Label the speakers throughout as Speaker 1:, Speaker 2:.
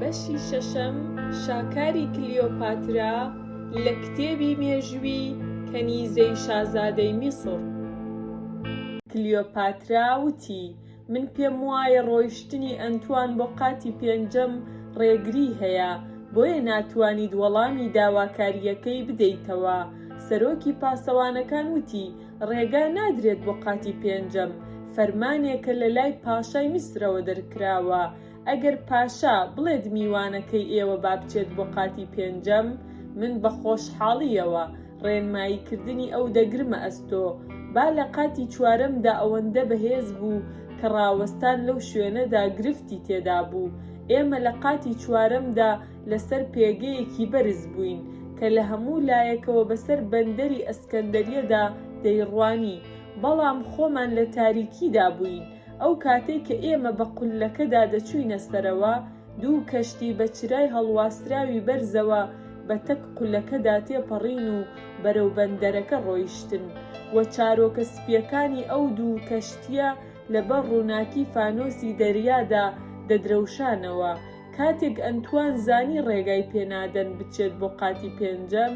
Speaker 1: بەشی شەشەم، شاکاری کلیۆپاترا لە کتێبی مێژووی کەنیزەی شازادەی میسڕ. کلیۆپاترا وتی، من پێم وایە ڕۆیشتنی ئەنتوان بۆ قاتی پێنجەم ڕێگری هەیە، بۆیە ناتوانیت وەڵامی داواکارییەکەی بدەیتەوە. سەرۆکی پاسەوانەکان وتی، ڕێگا نادرێت بۆ قاتی پێنجەم، فەرمانێکە لە لای پاشای میسرەوە دەرکراوە، ئەگەر پاشا بڵێت میوانەکەی ئێوە با بچێت بۆ قاتی پێنجەم، من بە خۆشحاڵییەوە ڕێنماییکردنی ئەو دەگرمە ئەستۆ. با لە قاتی چوارەمدا ئەوەندە بەهێز بوو کە ڕاوەستان لەو شوێنەدا گرفتی تێدا بوو. ئێمە لە قاتی چوارەمدا لەسەر پێگەیەکی بەرز بووین کە لە هەموو لایەکەوە بەسەر بەندەری ئەسکەندەریەدا دەیڕوانی، بەڵام خۆمان لە تاریکیدا بووین، ئەو کاتەی کە ئێمە بە قوللەکەدا دەچووینە سەرەوە، دوو کەشتی بە چرای هەڵواسراوی بەرزەوە بە تەک قولەکەدا تێپەڕین و بەرەو بەندەرەکە ڕۆیشتن و چارۆکە سپییەکانی ئەو دوو کەشتییە لەبەر ڕووناکی فانۆسی دەریادا دەدرەوشانەوە، کاتێک ئەنتوان زانی ڕێگای پێنادەن بچێت بۆ قاتی پێنجەم،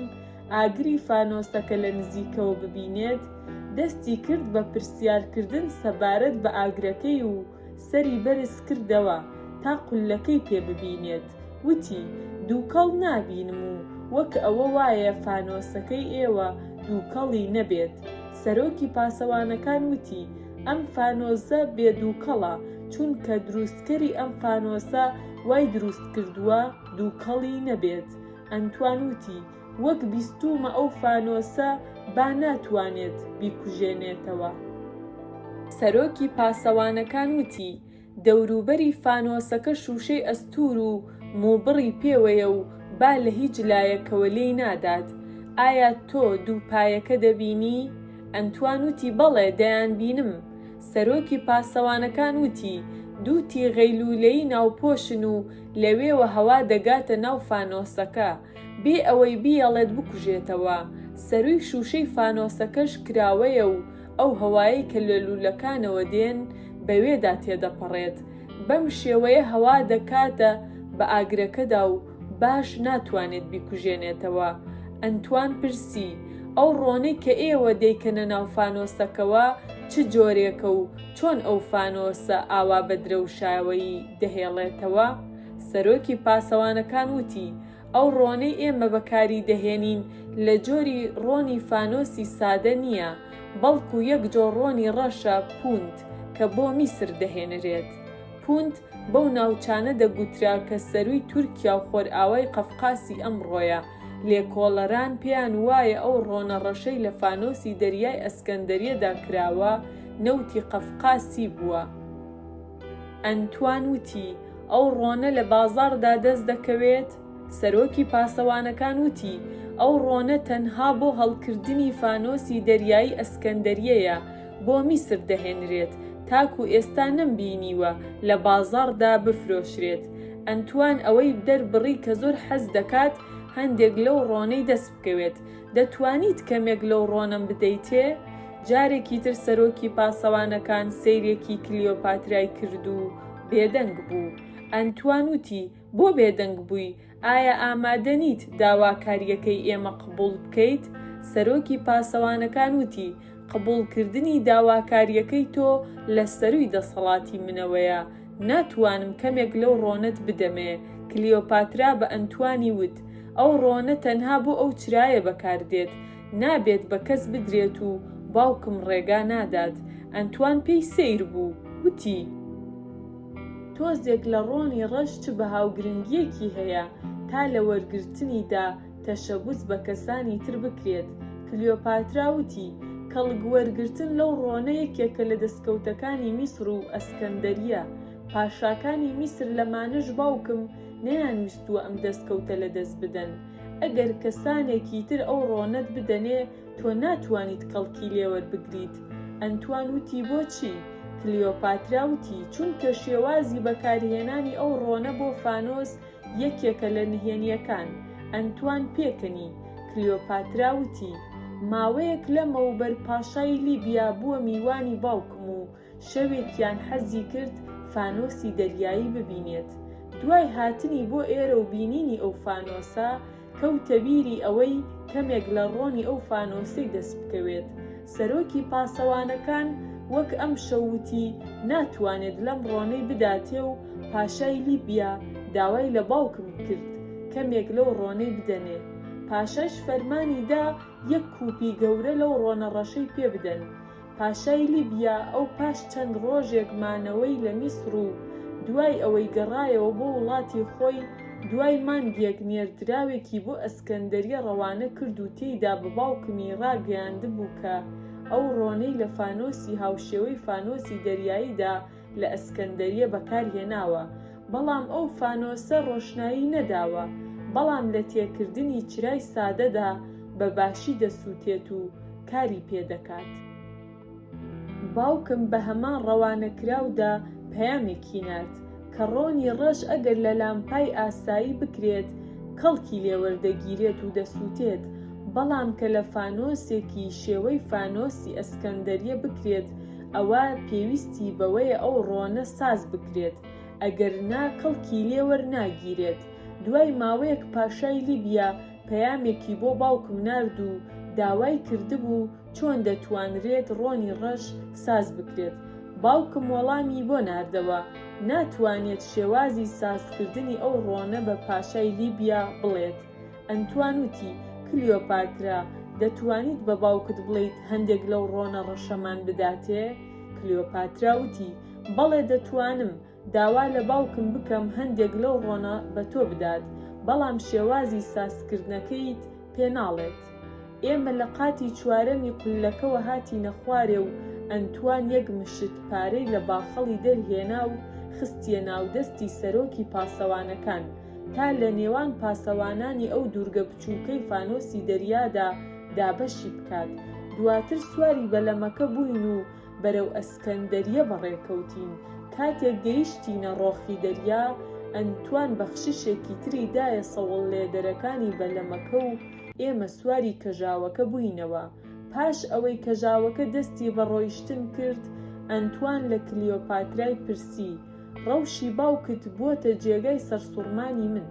Speaker 1: ئاگری فانۆسەکە لە نزیکەوە ببینێت، دەستی کرد بە پرسیارکردن سەبارەت بە ئاگرەکەی و سەری بەرز کردەوە تا قوللەکەی پێ ببینێت، وتی، دووکەڵ نابینم و وەک ئەوە وایە فانۆسەکەی ئێوە دووکەڵی نەبێت، سەرۆکی پاسەوانەکان وتی، ئەم فانۆسە بێ دووکەڵە چونکە دروستکەری ئەم فانۆسە وای دروست کردووە دووکەڵی نەبێت ئەنتوان وتی وەک بیستوومە ئەو فانۆسە با ناتوانێت بیکوژێنێتەوە. سەرۆکی پاسەوانەکان وتی دەوروبەری فانۆسەکە شووشەی ئەستوور و مووبڕی پێوەیە و با لە هیچ لایەکەوە لێی نادات. ئایا تۆ دوو پایەکە دەبینی؟ ئەنتوان وتی بەڵێ، دەیانبینم. سەرۆکی پاسەوانەکان وتی دوو تیغەی لوولەیی ناوپۆشن و لەوێوە هەوا دەگاتە ناو فانۆسەکە، بێ ئەوەی بیەڵێت بکوژێتەوە. سەرووی شووشەی فانۆسەکەش کراوەیە و ئەو هەوایەی کە لە لوولەکانەوە دێن بەوێدا تێدەپەڕێت، بەم شێوەیە هەوا دەکاتە بە ئاگرەکەدا و باش ناتوانێت بیکوژێنێتەوە. ئەنتوان پرسی، ئەو ڕۆنەی کە ئێوە دەیکەنە ناو فانۆسەکەوە چ جۆرێکە و چۆن ئەو فانۆسە ئاوا بە درەوشاوەیی دەهێڵێتەوە؟ سەرۆکی پاسەوانەکان وتی، ئەو ڕۆنەی ئێمە بەکاری دەهێنین لە جۆری ڕۆنی فانۆسی سادە نییە، بەڵکو یەک جۆر ڕۆنی ڕەشە پوند کە بۆ میسر دەهێنرێت. پوند بەو ناوچانە دەگوترا کە سەرووی تورکیا و خۆرئاوای قەفقاسی ئەمڕۆیە، لێکۆڵەران پێیان وایە ئەو ڕۆنە ڕەشەی لە فانۆسی دەریای ئەسکەندەریەدا کراوە نەوتی قەفقاسی بووە. ئەنتوان وتی، ئەو ڕۆنە لە بازاڕدا دەست دەکەوێت؟ سەرۆکی پاسەوانەکان وتی، ئەو ڕۆنە تەنها بۆ هەڵکردنی فانۆسی دەریایی ئەسکەندەریەیە بۆ میسر دەهێنرێت، تاکو ئێستا نەمبینیوە لە بازاڕدا بفرۆشرێت. ئەنتوان ئەوەی دەربڕی کە زۆر حەز دەکات هەندێک لەو ڕۆنەی دەست بکەوێت. دەتوانیت کەمێک لەو ڕۆنەم بدەیتێ؟ جارێکی تر سەرۆکی پاسەوانەکان سەیرێکی کلیۆپاترای کرد و بێدەنگ بوو. ئەنتوان وتی، بۆ بێدەنگ بووی؟ ئایا ئامادە نیت داواکارییەکەی ئێمە قبوڵ بکەیت؟ سەرۆکی پاسەوانەکان وتی، قبوڵکردنی داواکارییەکەی تۆ لە سەرووی دەسەڵاتی منەوەیە، ناتوانم کەمێک لەو ڕۆنەت بدەمێ، کلیۆپاترا بە ئەنتوانی وت، ئەو ڕۆنە تەنها بۆ ئەو چرایە بەکار دێت، نابێت بە کەس بدرێت و باوکم ڕێگا نادات. ئەنتوان پێی سەیر بوو، وتی. تۆزێک لە ڕۆنی ڕەش چ بەها و گرنگییەکی هەیە تا لە وەرگرتنیدا تەشەبوس بە کەسانی تر بکرێت، کلیۆپاترا وتی، کەڵک وەرگرتن لەو ڕۆنە یەکێکە لە دەستکەوتەکانی میسر و ئەسکەندەریە، پاشاکانی میسر لەمانەش باوکم نەیانویستووە ئەم دەستکەوتە لە دەست بدەن، ئەگەر کەسانێکی تر ئەو ڕۆنەت بدەنێ تۆ ناتوانیت کەڵکی لێوەربگریت، ئەنتوان وتی، بۆچی؟ کلیۆپاترا وتی، چونکە شێوازی بەکارهێنانی ئەو ڕۆنە بۆ فانۆس یەکێکە لە نهێنییەکان، ئەنتوان پێکنی، کلیۆپاترا وتی، ماوەیەک لەمەوبەر پاشای لیبیا بووە میوانی باوکم و شەوێکیان حەزی کرد فانۆسی دەریایی ببینێت، دوای هاتنی بۆ ئێرە و بینینی ئەو فانۆسە، کەوتە بیری ئەوەی کەمێک لە ڕۆنی ئەو فانۆسەی دەست بکەوێت. سەرۆکی پاسەوانەکان وەک ئەمشەو وتی ناتوانێت لەم ڕۆنەی بداتێ و پاشای لیبیا داوای لە باوکم کرد کەمێک لەو ڕۆنەی بدەنێ. پاشاش فەرمانی دا یەک کوپی گەورە لەو ڕۆنە ڕەشەی پێ بدەن. پاشای لیبیا ئەو پاش چەند ڕۆژێک مانەوەی لە میسڕ و دوای ئەوەی گەڕایەوە بۆ وڵاتی خۆی، دوای مانگێک نێردراوێکی بۆ ئەسکەندەریە ڕەوانە کرد و تێیدا بە باوکمی ڕاگەیاندبوو کە ئەو ڕۆنەی لە فانۆسی هاوشێوەی فانۆسی دەریاییدا لە ئەسکەندەریە بەکار هێناوە بەڵام ئەو فانۆسە ڕۆشنایی نەداوە بەڵام لە تێکردنی چرای سادەدا بە باشی دەسوتێت و کاری پێ دەکات. باوکم بە هەمان ڕەوانەکراودا پەیامێکی نارد کە ڕۆنی ڕەش ئەگەر لە لامپای ئاسایی بکرێت کەڵکی لێ وەردەگیرێت و دەسوتێت بەڵام کە لە فانۆسێکی شێوەی فانۆسی ئەسکەندەریە بکرێت ئەوا پێویستی بەوەیە ئەو ڕۆنە ساز بکرێت، ئەگەرنا کەڵکی لێ وەرناگیرێت. دوای ماوەیەک پاشای لیبیا پەیامێکی بۆ باوکم نارد و داوای کردبوو چۆن دەتوانرێت ڕۆنی ڕەش ساز بکرێت. باوکم وەڵامی بۆ ناردەوە، ناتوانێت شێوازی سازکردنی ئەو ڕۆنە بە پاشای لیبیا بڵێت، ئەنتوان وتی، کلیۆپاترا، دەتوانیت بە باوکت بڵێیت هەندێک لەو ڕۆنە ڕەشەمان بداتێ؟ کلیۆپاترا وتی، بەڵێ دەتوانم، داوا لە باوکم بکەم هەندێک لەو ڕۆنە بە تۆ بدات، بەڵام شێوازی سازکردنەکەیت پێ ناڵێت. ئێمە لە قاتی چوارەمی قوللەکەوە هاتینە خوارێ و ئەنتوان یەک مشت پارەی لە باخەڵی دەرهێنا و خستییە ناو دەستی سەرۆکی پاسەوانەکان، تا لە نێوان پاسەوانانی ئەو دوورگە بچووکەی فانۆسی دەریادا دابەشی بکات. دواتر سواری بەلەمەکە بووین و بەرەو ئەسکەندەرییە بەڕێکەوتین. کاتێک گەیشتینە ڕۆخی دەریا، ئەنتوان بەخششێکی تری دایە سەوڵلێدەرەکانی بەلەمەکە و ئێمە سواری کەژاوەکە بووینەوە. پاش ئەوەی کەژاوەکە دەستی بە ڕۆیشتن کرد، ئەنتوان لە کلیۆپاترای پرسی، ڕەوشی باوکت بووەتە جێگای سەرسوڕمانی من.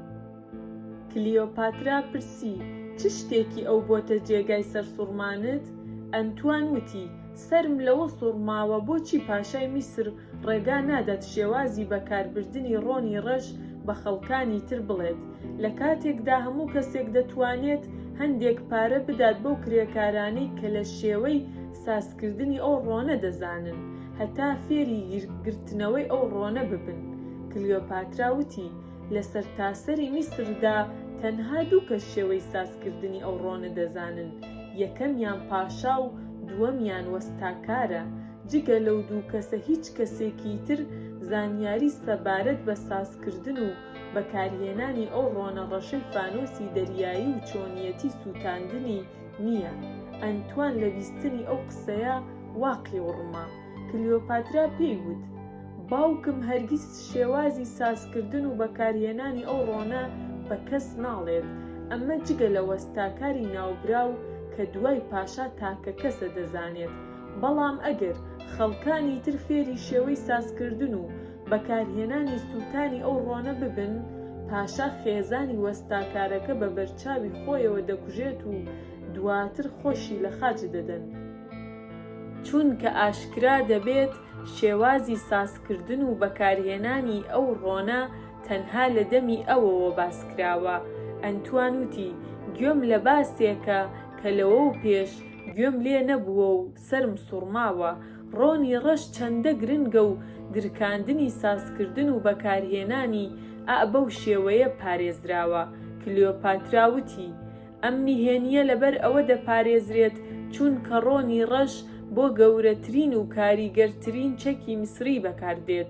Speaker 1: کلیۆپاترا پرسی، چ شتێکی ئەو بووەتە جێگای سەرسوڕمانت؟ ئەنتوان وتی، سەرم لەوە سوڕماوە بۆچی پاشای میسر ڕێگا نادات شێوازی بەکاربردنی ڕۆنی ڕەش بە خەڵکانی تر بڵێت، لە کاتێکدا هەموو کەسێک دەتوانێت هەندێک پارە بدات بەو کرێکارانەی کە لە شێوەی سازکردنی ئەو ڕۆنە دەزانن هەتا فێری گرتنەوەی ئەو ڕۆنە ببن. کلیۆپاترا وتی، لە سەرتاسەری میسردا تەنها دوو کەس شێوەی سازکردنی ئەو ڕۆنە دەزانن، یەکەمیان پاشا و دووەمیان وەستاکارە، جگە لەو دوو کەسە هیچ کەسێکی تر زانیاری سەبارەت بە سازکردن و بەکارهێنانی ئەو ڕۆنە ڕەشەی فانۆسی دەریایی و چۆنیەتی سووتاندنی نییە. ئەنتوان لە بیستنی ئەو قسەیە وا قیوڕما. کلیۆپاترا پێی وت، باوکم هەرگیز شێوازی سازکردن و بەکارهێنانی ئەو ڕۆنە بە کەس ناڵێت، ئەمە جگە لە وەستاکاری ناوبراو کە دوای پاشا تاکەکەسە دەزانێت، بەڵام ئەگەر خەڵکانی تر فێری شێوەی سازکردن و بەکارهێنانی سووتانی ئەو ڕۆنە ببن، پاشا خێزانی وەستاکارەکە بە بەرچاوی خۆیەوە دەکوژێت و دواتر خۆشی لە خاچ دەدەن، چونکە ئاشکرا دەبێت شێوازی سازکردن و بەکارهێنانی ئەو ڕۆنە تەنها لە دەمی ئەوەوە باس کراوە، ئەنتوان وتی، گوێم لە باسێکە کە لەوەو پێش گوێم لێ نەبووە و سەرم سوڕماوە ڕۆنی ڕەش چەندە گرنگە و درکاندنی سازکردن و بەکارهێنانی ئە بەو شێوەیە پارێزراوە، کلیۆپاترا وتی، ئەم نهێنییە لەبەر ئەوە دەپارێزرێت چوونکە ڕۆنی ڕەش بۆ گەورەترین و کاریگەرترین چەکی میسری بەکاردێت،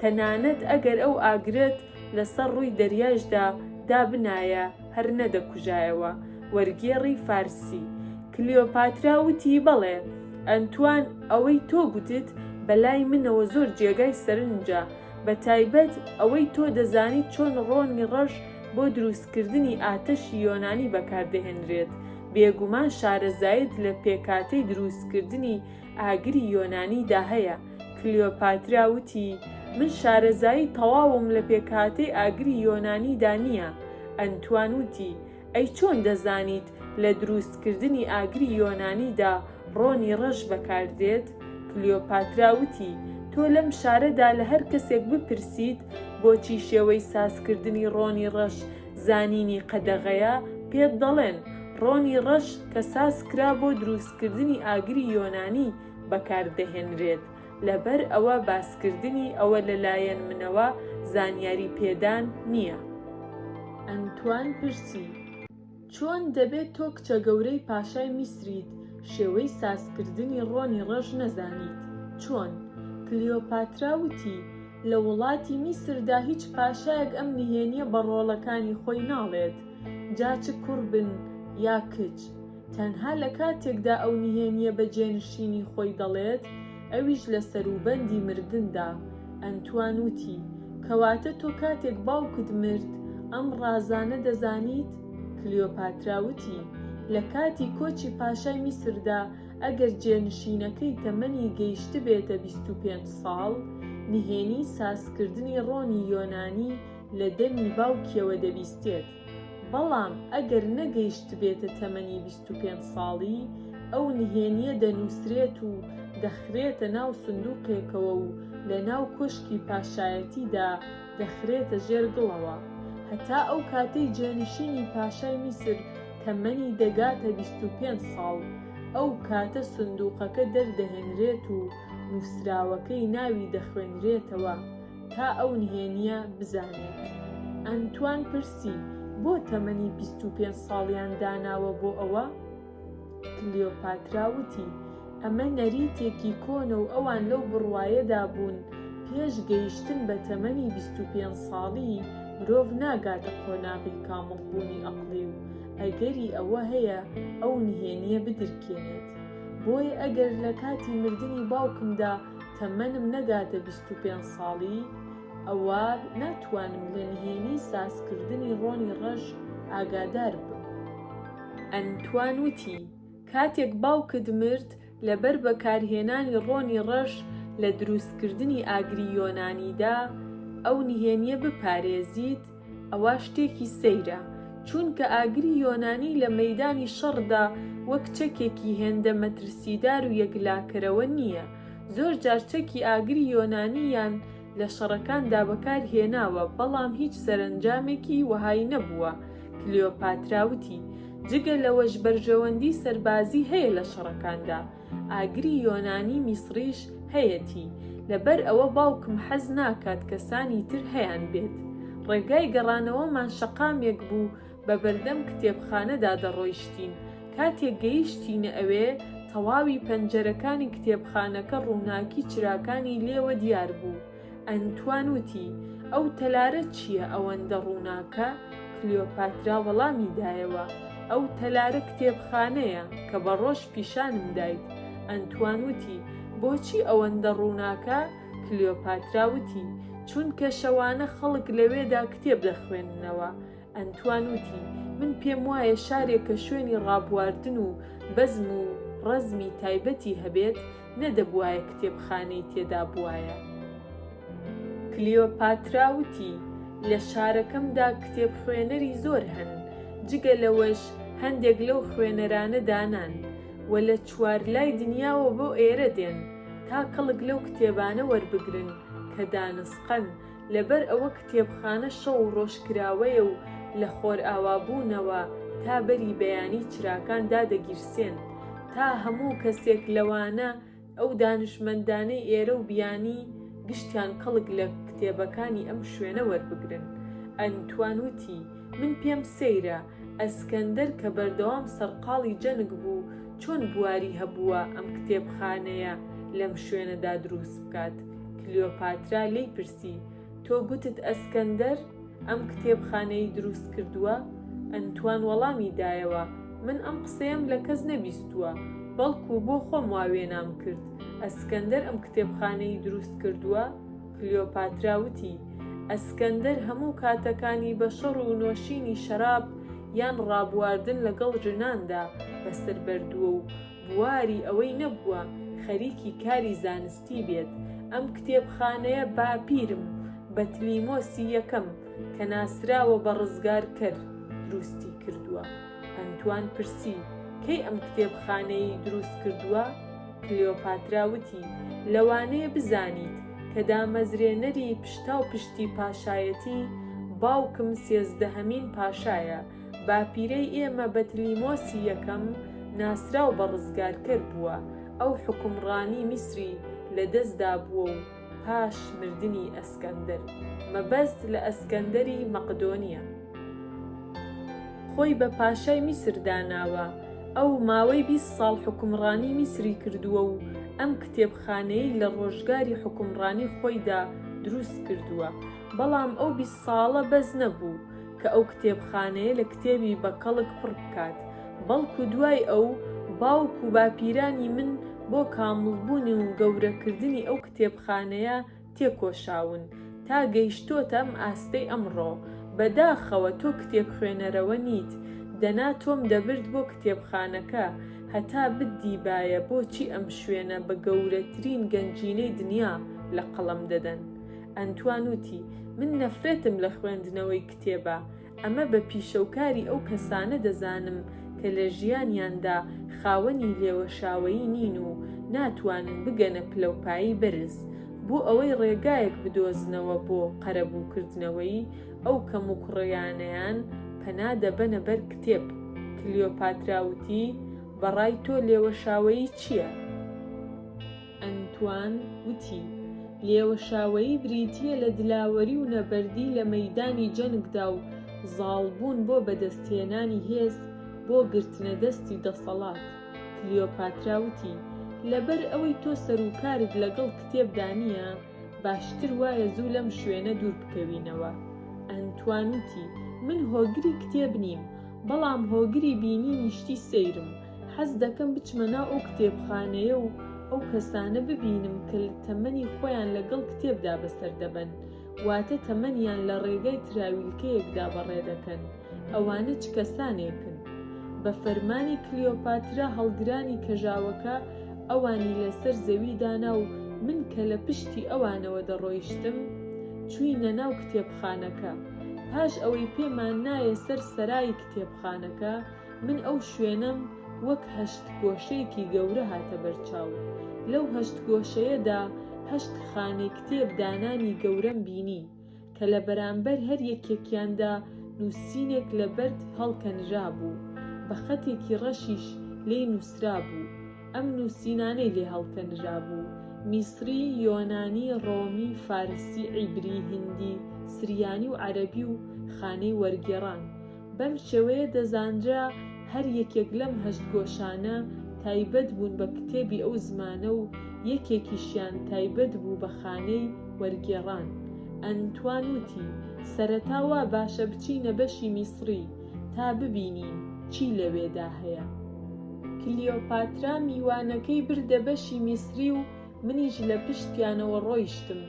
Speaker 1: تەنانەت ئەگەر ئەو ئاگرەت لە سەر ڕووی دەریایشدا دابنایە هەر نەدەکوژایەوە. وەرگێڕی فارسی، کلیۆپاترا وتی، بەڵێ، ئەنتوان، ئەوەی تۆ گوتت بە لای منەوە زۆر جێگای سەرنجە، بە تایبەت ئەوەی تۆ دەزانیت چۆن ڕۆنی ڕەش بۆ دروستکردنی ئاتەشی یۆنانی بەکاردەهێنرێت، بێگومان شارەزایت لە پێکهاتەی دروستکردنی ئاگری یۆنانی دا هەیە، کلیۆپاترا وتی، من شارەزایی تەواوم لە پێکهاتەی ئاگری یۆنانی دا نییە. ئەنتوان وتی، ئەی چۆن دەزانیت لە درووستکردنی ئاگری یۆنانی دا ڕۆنی ڕەش بەکار دێت؟ کلیۆپاترا وتی، تۆ لەم شارە دا لە هەر کەسێک بپرسیت بۆچی شێوەی سازکردنی ڕۆنی ڕەش زانینی قەدەغەیە پێت دەڵێن ڕۆنی ڕەش کە ساز کرا بۆ دروستکردنی ئاگری یۆنانی بەکار دەهێنرێت لەبەر ئەوە باسکردنی ئەوە لە لایەن منەوە زانیاری پێدان نیە. ئەنتوان پرسی، چۆن دەبێت تۆ کچە گەورەی پاشای میسریت شێوەی سازکردنی ڕۆنی ڕەش نەزانیت؟ چۆن؟ کلیۆپاترا وتی، لە وڵاتی میسردا هیچ پاشایەک ئەم نهێنیە بە ڕۆڵەکانی خۆی ناڵێت جا چ کوڕ بن یا کچ تەنها لە کاتێکدا ئەو نهێنیە بە جێنشینی خۆی دەڵێت ئەویش لە سەروبەندی مردندا ئەنتوان وتی کەواتە تۆ کاتێک باوکت مرد ئەم ڕازانە دەزانیت؟ کلیۆپاترا وتی لە کاتی کۆچی پاشای میسردا ئەگەر جێنشینەکەی تەمەنی گەیشتبێتە بیست و پێنج ساڵ، نهێنی سازکردنی ڕۆنی یۆنانی لە دەمی باوکیەوە دەبیستێت، بەڵام ئەگەر نەگەیشتبێتە تەمەنی بیست و پێنج ساڵی، ئەو نهێنیە دەنوسرێت و دەخرێتە ناو سندوقێکەوە و لە ناو کۆشکی پاشایەتیدا، دەخرێتە ژێر گڵەوە هەتا ئەو کاتەی جانشینی پاشای میسر تەمەنی دەگاتە بیست و پێنج ساڵ، ئەو کاتە سندووقەکە دەردەهێنرێت و نووسراوەکەی ناوی دەخوێنرێتەوە تا ئەو نهێنییە بزانێت. ئەنتوان پرسی، بۆ تەمەنی بیست و پێنج ساڵیان داناوە بۆ ئەوە؟ کلیۆپاترا وتی، ئەمە نەریتێکی کۆنە و ئەوان لەو بڕوایەدا بوون پێش گەیشتن بە تەمەنی بیست و پێنج ساڵی مرۆڤ ناگاتە قۆناغی کامڵبوونی ئەقڵی و ئەگەری ئەوە هەیە ئەو نهێنییە بدرکێنێت. بۆیە ئەگەر لە کاتی مردنی باوکمدا تەمەنم نەگاتە بیست و پێنج ساڵی، ئەوا ناتوانم لە نهێنیی سازکردنی ڕۆنی ڕەش ئاگادار بم. ئەنتوان وتی، کاتێک باوکت مرد، لەبەر بەکارهێنانی ڕۆنی ڕەش لە دروستکردنی ئاگری یۆنانیدا، ئەو نهێنییە بپارێزیت، ئەوا شتێکی سەیرە، چونکە ئاگری یۆنانی لە مەیدانی شەڕدا وەک چەکێکی هێندە مەترسیدار و یەکلاکەرەوە نییە، زۆرجار چەکی ئاگری یۆنانی یان. لە شەڕەکاندا بەکار هێناوە، بەڵام هیچ سەرەنجامێکی وەهای نەبووە. کلیۆپاترا وتی، جگە لەوەش بەرژەوەندی سەربازی هەیە لە شەڕەکاندا. ئاگری یۆنانی میسڕیش هەیەتی، لەبەر ئەوە باوکم حەز ناکات کەسانی تر هەیانبێت. ڕێگای گەڕانەوەمان شەقامێک بوو بە بەردەم کتێبخانەدا دەڕۆیشتین، کاتێک گەیشتینە ئەوێ تەواوی پەنجەرەکانی کتێبخانەکە ڕووناکی چراکانی لێوە دیار بوو، ئەنتوان وتی، ئەو تەلارە چییە ئەوەندە ڕووناکە؟ کلیۆپاترا وەڵامی دایەوە، ئەو تەلارە کتێبخانەیە کە بە ڕۆژ پیشانم دایت. ئەنتوان وتی، بۆچی ئەوەندە ڕووناکە؟ کلیۆپاترا وتی، چونکە شەوانە خەڵک لەوێدا کتێب دەخوێننەوە. ئەنتوان وتی، من پێم وایە شارێک کە شوێنی ڕابواردن و بەزم و ڕەزمی تایبەتی هەبێت، نەدەبوایە کتێبخانەی تێدا بوایە. کلیۆپاترا وتی، لە شارەکەمدا کتێبخوێنەری زۆر هەن، جگە لەوەش هەندێک لەو خوێنەرانە دانان و لە چوارلای دنیاوە بۆ ئێرە دێن، تا کەڵک لەو کتێبانە وەربگرن کە دانسقەن، لەبەر ئەوە کتێبخانە شەو و ڕۆژ کراوەیە و لە خۆرئاوابوونەوە تا بەری بەیانی چراکان دادەگیرسێن تا هەموو کەسێک لەوانە ئەو دانشمەندانەی ئێرە و بیانی گشتیان کەڵک لە کتێبەکانی ئەم شوێنە وەربگرن. ئەنتوان وتی، من پێم سەیرە ئەسکەندەر کە بەردەوام سەرقاڵی جەنگ بوو چۆن بواری هەبووە ئەم کتێبخانەیە لەم شوێنەدا دروست بکات. کلیۆپاترا لێی پرسی، تۆ گوتت ئەسکەندەر ئەم کتێبخانەی دروست کردووە؟ ئەنتوان وەڵامی دایەوە، من ئەم قسەیەم لە کەس نەبیستووە، بەڵکو بۆ خۆم وا وێنام کرد، ئەسکەندەر ئەم کتێبخانەی دروست کردووە؟ کلیۆپاترا وتی، ئەسکەندەر هەموو کاتەکانی بە شەڕ و نۆشینی شەراب یان ڕابواردن لەگەڵ ژناندا بەسەر بەردووە و بواری ئەوەی نەبووە خەریکی کاری زانستی بێت، ئەم کتێبخانەیە باپیرم بەتلیمۆسی یەکەم کە ناسراوە بە ڕزگارکەر دروستی کردووە، ئەنتوان پرسی کەی ئەم کتێبخانەیەی دروست کردووە؟ کلیۆپاترا وتی لەوانەیە بزانیت کە دامەزرێنەری پشتاوپشتی پاشایەتی باوکم سێزدەهەمین پاشایە، باپیرەی ئێمە بەتلیمۆسی یەکەم ناسراو بە ڕزگارکەر بووە، ئەو حوکمڕانی میسری لە دەستدا بووە و پاش مردنی ئەسکەندەر، مەبەست لە ئەسکەندەری مەقدۆنییە، خۆی بە پاشای میسر داناوە، ئەو ماوەی بیست ساڵ حوکمڕانی میسری کردووە و ئەم کتێبخانەیەی لە ڕۆژگاری حوکمڕانی خۆیدا دروست کردووە، بەڵام ئەو بیست ساڵە بەس نەبوو، کە ئەو کتێبخانەیە لە کتێبی بە کەڵک پڕ بکات، بەڵکو دوای ئەو، باوک و باپیرانی من بۆ کامڵبوون و گەورەکردنی ئەو کتێبخانەیە تێکۆشاون، تا گەیشتۆتە ئەم ئاستەی ئەمڕۆ. بە داخەوە تۆ کتێبخوێنەرەوە نیت، دەنا تۆم دەبرد بۆ کتێبخانەکە، هەتا بتدیبایە بۆچی ئەم شوێنە بە گەورەترین گەنجینەی دنیا لە قەڵەم دەدەن. ئەنتوان وتی، من نەفرەتم لە خوێندنەوەی کتێبە، ئەمە بە پیشەوکاری ئەو کەسانە دەزانم کە لە ژیانیاندا خاوەنی لێوەشاوەیی نین و ناتوانن بگەنە پلەوپایەی بەرز بۆ ئەوەی ڕێگایەک بدۆزنەوە بۆ قەرەبووکردنەوەی ئەو کەموکوڕییانەیان پەنا دەبەنە بەر کتێب. کلیۆپاترا وتی، بە ڕای تۆ لێوەشاوەیی چییە؟ ئەنتوان وتی، لێوەشاوەیی بریتییە لە دلاوەری و نەبەردی لە مەیدانی جەنگدا و زاڵبوون بۆ بەدەستهێنانی هێز بۆ گرتنەدەستی دەسەڵات. کلیۆپاترا وتی، لەبەر ئەوەی تۆ سەروکارت لەگەڵ کتێبدا نییە، باشتر وایە زوو لەم شوێنە دوور بکەوینەوە. ئەنتوان وتی، من هۆگری کتێب نیم، بەڵام هۆگری بینینی شتی سەیرم. حەز دەکەم بچمە ناو ئەو کتێبخانەیە و ئەو کەسانە ببینم کە تەمەنی خۆیان لەگەڵ کتێبدا بەسەر دەبەن، واتە تەمەنیان لە ڕێگای تراویلکەیەکدا بەڕێ دەکەن، ئەوانە چ کەسانێکن؟ بە فەرمانی کلیۆپاترا هەڵگرانی کەژاوەکە ئەوانی لەسەر زەوی دانا و من کە لە پشتی ئەوانەوە دەڕۆیشتم، چووینە ناو کتێبخانەکە. پاش ئەوەی پێمان نایە سەر سەرای کتێبخانەکە، من ئەو شوێنەم وەک هەشت گۆشەیەکی گەورە هاتە بەر چاو. لەو هەشت گۆشەیەدا هەشت خانەی کتێب دانانی گەورەم بینی، کە لە بەرامبەر هەر یەکێکیاندا نووسینێک لە بەرد هەڵکەنرابوو، بە خەتێکی ڕەشیش لێی نووسرابوو. ئەم نووسینانەی لێ هەڵکەنرابوو، میسری، یۆنانی، ڕۆمی، فارسی، عیبری، هیندی، سریانی و عەرەبی و خانەی وەرگێڕان، بەم شێوەیە دەزانرا هەر یەکێک لەم هەشت گۆشانە تایبەت بوون بە کتێبی ئەو زمانە و یەکێکیشیان تایبەت بوو بە خانەی وەرگێڕان. ئەنتوان وتی، سەرەتا وا باشە بچینە بەشی میسڕی تا ببینین چی لەوێدا هەیە. کلیۆپاترا میوانەکەی بردە بەشی میسڕی و منیش لە پشتیانەوە ڕۆیشتم.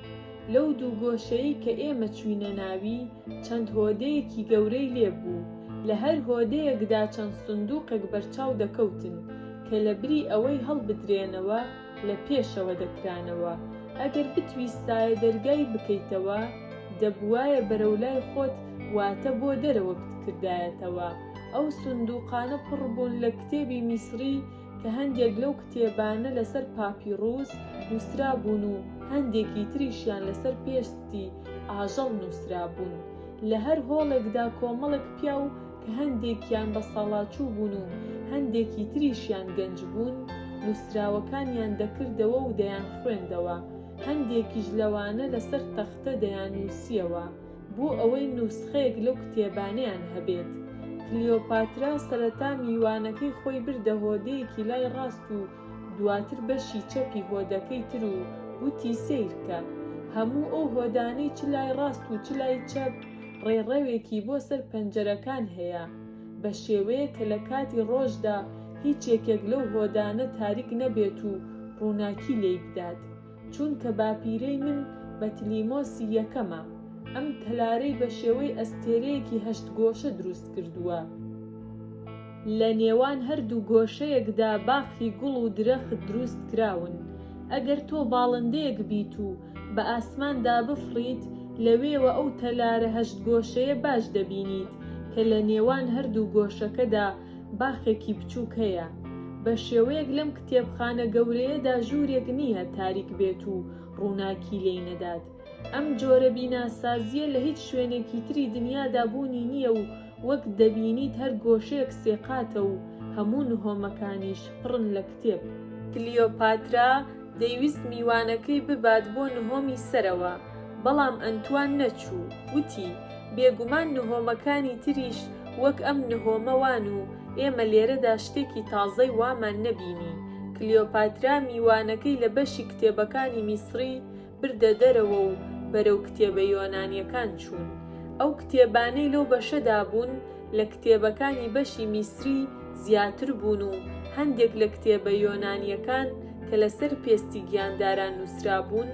Speaker 1: لەو دوو گۆشەی کە ئێمە چووینە ناوی، چەند هۆدەیەکی گەورەی لێ بوو. لە هەر هۆدەیەکدا چەند سندووقێک بەرچاو دەکەوتن، کە لە بری ئەوەی هەڵبدرێنەوە، لە پێشەوە دەکرانەوە. ئەگەر بتویستایە دەرگای بکەیتەوە، دەبووایە بەرەو لای خۆت واتە بۆ دەرەوە بتکردایەتەوە. ئەو سندووقانە پڕ بوون لە کتێبی میسڕی، کە هەندێک لەو کتێبانە لەسەر پاپیڕووس نووسرابوون و هەندێکی تریشیان لەسەر پێستی ئاژەڵ نووسرابوون. لە هەر هۆڵێکدا کۆمەڵێک پیاو کە هەندێکیان بەساڵاچوو بوون و هەندێکی تریشیان گەنج بوون، نووسراوەکانیان دەکردەوە و دەیانخوێندەوە، هەندێکیش لەوانە لەسەر تەختە دەیاننووسییەوە. بۆ ئەوەی نوسخەیەک لەو کتێبانەیان هەبێت. کلیۆپاترا سەرەتا میوانەکەی خۆی بردە هۆدەیەکی لای ڕاست و دواتر بەشی چەپی هۆدەکەی تر و وتی سەیرکە. هەموو ئەو هۆدانەی چ لای ڕاست و چ لای چەپ ڕێڕەوێکی بۆ سەر پەنجەرەکان هەیە، بە شێوەیەک کە لە کاتی ڕۆژدا هیچ یەکێک لەو هۆدانە تاریک نەبێت و ڕووناکی لێی بدات. چونکە باپیرەی من بەتلیمۆسی یەکەمە، ئەم تەلارەی بە شێوەی ئەستێرەیەکی هەشت گۆشە دروست کردووە، لە نێوان هەردوو گۆشەیەکدا باخی گوڵ و درەخت دروست کراون، ئەگەر تۆ باڵندەیەک بیت و بە ئاسماندا بفڕیت، لەوێوە ئەو تەلارە هەشت گۆشەیە باش دەبینیت کە لە نێوان هەردوو گۆشەکەدا باخێکی بچووک هەیە. بە شێوەیەک لەم کتێبخانە گەورەیەدا ژوورێک نییە تاریک بێت و ڕووناکی لێی نەدات. ئەم جۆرە بیناسازییە لە هیچ شوێنێکی تری دنیادا بوونی نییە و وەک دەبینیت هەر گۆشەیەک سێقاتە و هەموو نهۆمەکانیش پڕن لە کتێب. کلیۆپاترا دەیویست میوانەکەی ببات بۆ نهۆمی سەرەوە، بەڵام ئەنتوان نەچوو، وتی، بێگومان نهۆمەکانی تریش وەک ئەم نهۆمە وان و ئێمە لێرەدا شتێکی تازەی وامان نەبینی. کلیۆپاترا میوانەکەی لە بەشی کتێبەکانی میسڕی بردە دەرەوە و بەرەو کتێبە یۆنانییەکان چوون. ئەو کتێبانەی لەو بەشەدا بوون، لە کتێبەکانی بەشی میسری زیاتر بوون و هەندێک لە کتێبە یۆنانییەکان کە لەسەر پێستی گیانداران نووسرابوون،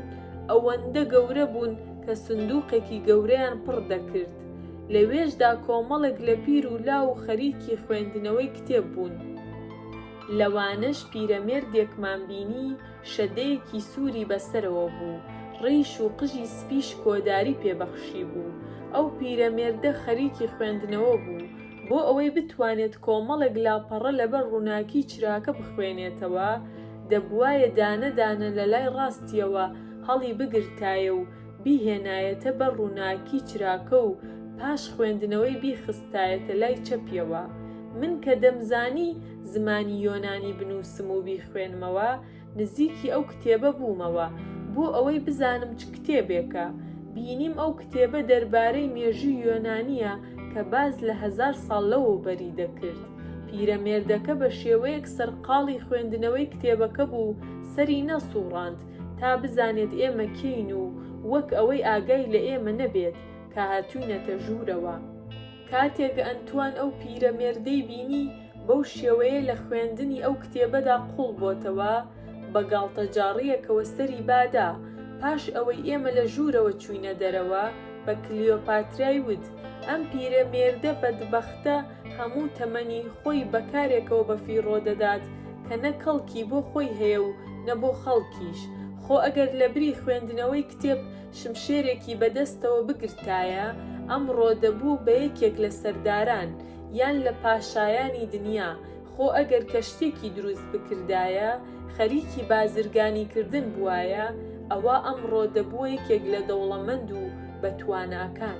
Speaker 1: ئەوەندە گەورە بوون کە سندووقێکی گەورەیان پڕ دەکرد. لەوێشدا کۆمەڵێک لە پیر و لاو و خەریکی خوێندنەوەی کتێب بوون. لەوانەش پیرەمێردێکمان بینی شەدەیەکی سووری بە سەرەوە بوو، ڕیش و قژی سپیش کۆداری پێ بەخشیبوو. ئەو پیرەمێردە خەریکی خوێندنەوە بوو. بۆ ئەوەی بتوانێت کۆمەڵێک لاپەڕە لەبەر ڕووناکیی چراکە بخوێنێتەوە، دەبوایە دانە دانە لە لای ڕاستییەوە هەڵیبگرتایە و بیهێنایەتە بەر ڕووناکیی چراکە و پاش خوێندنەوەی بیخستایەتە لای چەپییەوە. من کە دەمزانی زمانی یۆنانی بنووسم و بیخوێنمەوە، نزیکی ئەو کتێبە بوومەوە، بۆ ئەوەی بزانم چ کتێبێکە، بینیم ئەو کتێبە دەربارەی مێژووی یۆنانییە کە باس لە هەزار ساڵ لەوەوبەری دەکرد. پیرەمێردەکە بە شێوەیەک سەرقاڵی خوێندنەوەی کتێبەکە بوو، سەری نەسووڕاند تا بزانێت ئێمە کێین و وەک ئەوەی ئاگای لە ئێمە نەبێت کە هاتووینەتە ژوورەوە. کاتێک ئەنتوان ئەو پیرەمێردەی بینی بەو شێوەیە لە خوێندنی ئەو کتێبەدا قووڵ بۆتەوە، بە گاڵتەجاڕییەکەوە سەری بادا. پاش ئەوەی ئێمە لە ژوورەوە چووینە دەرەوە، بە کلیۆپاترای وت، ئەم پیرەمێردە بەدبەختە هەموو تەمەنی خۆی بە کارێکەوە بەفیڕۆ دەدات کە نە کەڵکی بۆ خۆی هەیە و نە بۆ خەڵکیش. خۆ ئەگەر لەبری خوێندنەوەی کتێب شمشێرێکی بە دەستەوە بگرتایە، ئەمڕۆ دەبوو بە یەکێک لە سەرداران، یان لە پاشایانی دنیا، خۆ ئەگەر کەشتیەکی دروست بکردایە، خەریکی بازرگانی کردن بوایە، ئەوا ئەمڕۆ دەبووە یەکێک لە دەوڵەمەند و بە تواناکان.